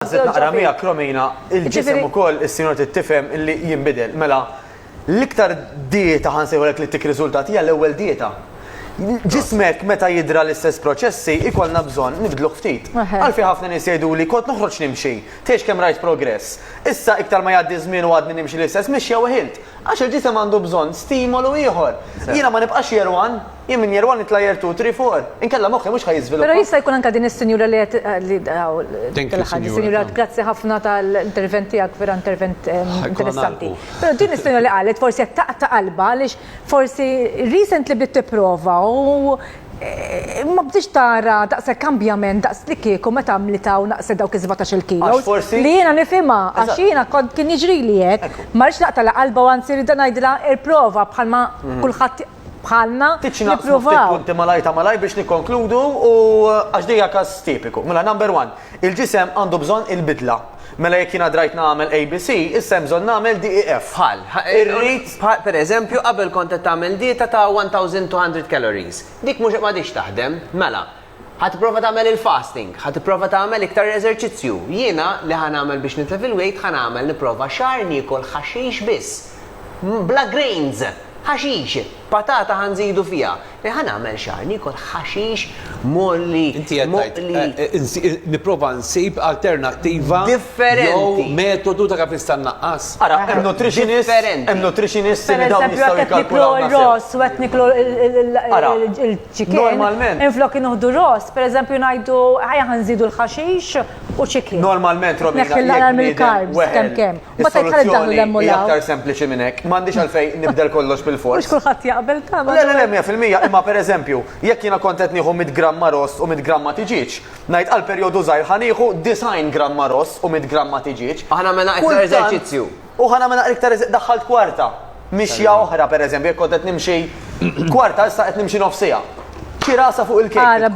Għazet naqra mija kromina, il-ġisem u koll il-sinjor t-tifem li jimbidel. Mela, l-iktar dieta ħansejħolek li tik rizultat hija l-ewwel dieta. Ġismek meta jidra l-istess proċessi ikollna bżonn nibdluh ftit. Għalfi ħafna nies jgħidu li kont noħroġ nimxi, tgħix kemm rajt progress. Issa iktar ma jgħaddi żmien u għadni nimxi l-istess mixja weħilt. Għax il-ġisem għandu bżonn stimolu ieħor. Jiena ma nibqax year one. Jien minn year one nitla' year two, three, four. Inkella moħħi mhux ħa jiżviluppa. Però jista' jkun anke din is-sinjura li qed li hawn tilħaq din is-sinjura grazzi ħafna tal-intervent tiegħek vera intervent interessanti. Però din is-sinjura li qalet forsi qed taqta' qalbha għaliex forsi recently bdiet tipprova u ma bdietx tara daqshekk kambjament daqs li kieku meta għamlitha u naqset dawk is-sbatax-il kilos li jiena nifhimha għax jiena kont kien jiġrili hekk. Ma rridx naqtagħlha qalbha u anzi rridha ngħidilha irprova bħalma kulħadd bħalna jippruvaw. Punti malaj ta' malaj biex nikkonkludu u għax dija kas tipiku. Mela number one, il-ġisem għandu bżonn il-bidla. Mela jekk jiena drajt nagħmel ABC, issa hemm bżonn nagħmel DEF. Bħal, irrid per eżempju qabel kont qed tagħmel dieta ta' 1200 calories. Dik mhux ma dix taħdem, mela. Ħa tipprova tagħmel il-fasting, ħa tipprova tagħmel iktar eżerċizzju. Jiena li ħa nagħmel biex nitlef il-weight ħa nagħmel nipprova xahar niekol ħaxix biss. Bla grains! Ħaxix! Patata ħa nżidu fiha. Li ħa nagħmel xahar niekol ħaxix mgħolli, moqli. Inti qed tgħid nipprova nsib alternattiva. Differenti. Jew metodu ta' kif nista' nnaqqas. Ara, hemm nutritionist, hemm nutritionist li dawn jistgħu jikkalkulaw. Pereżempju qed niklu r-ross u qed niklu l-. Ara, Chicken. Normalment. Minflok inuħdu ross, per eżempju ngħidu ħajja ħanżidu l-ħaxix u chicken. Normalment Romina. Neħħi l-għanar mill-karbs kemm kemm. Ma tgħid ħalli daħlu l-hemm u l-hemm. Aktar sempliċi minn hekk. M'għandix għalfejn nibdel kollox bil-fors. Mhux kulħadd jaqbel tagħmel. Le le le 100% imma per eżempju, jekk jiena kont qed nieħu 100 gramma ross u 100 gramma tiġieġ, ngħid għal perjodu żgħir ħa nieħu 90 gramma ross u 100 gramma tiġieġ. Aħna għamilna iktar eżerċizzju. U ħa nagħmilha iktar eżi-, daħħalt kwarta, mixja oħra, pereżempju, jekk kont qed nimxi kwarta, issa qed nimxi nofsiegħa. Xi rasa fuq il-kejk li tkun.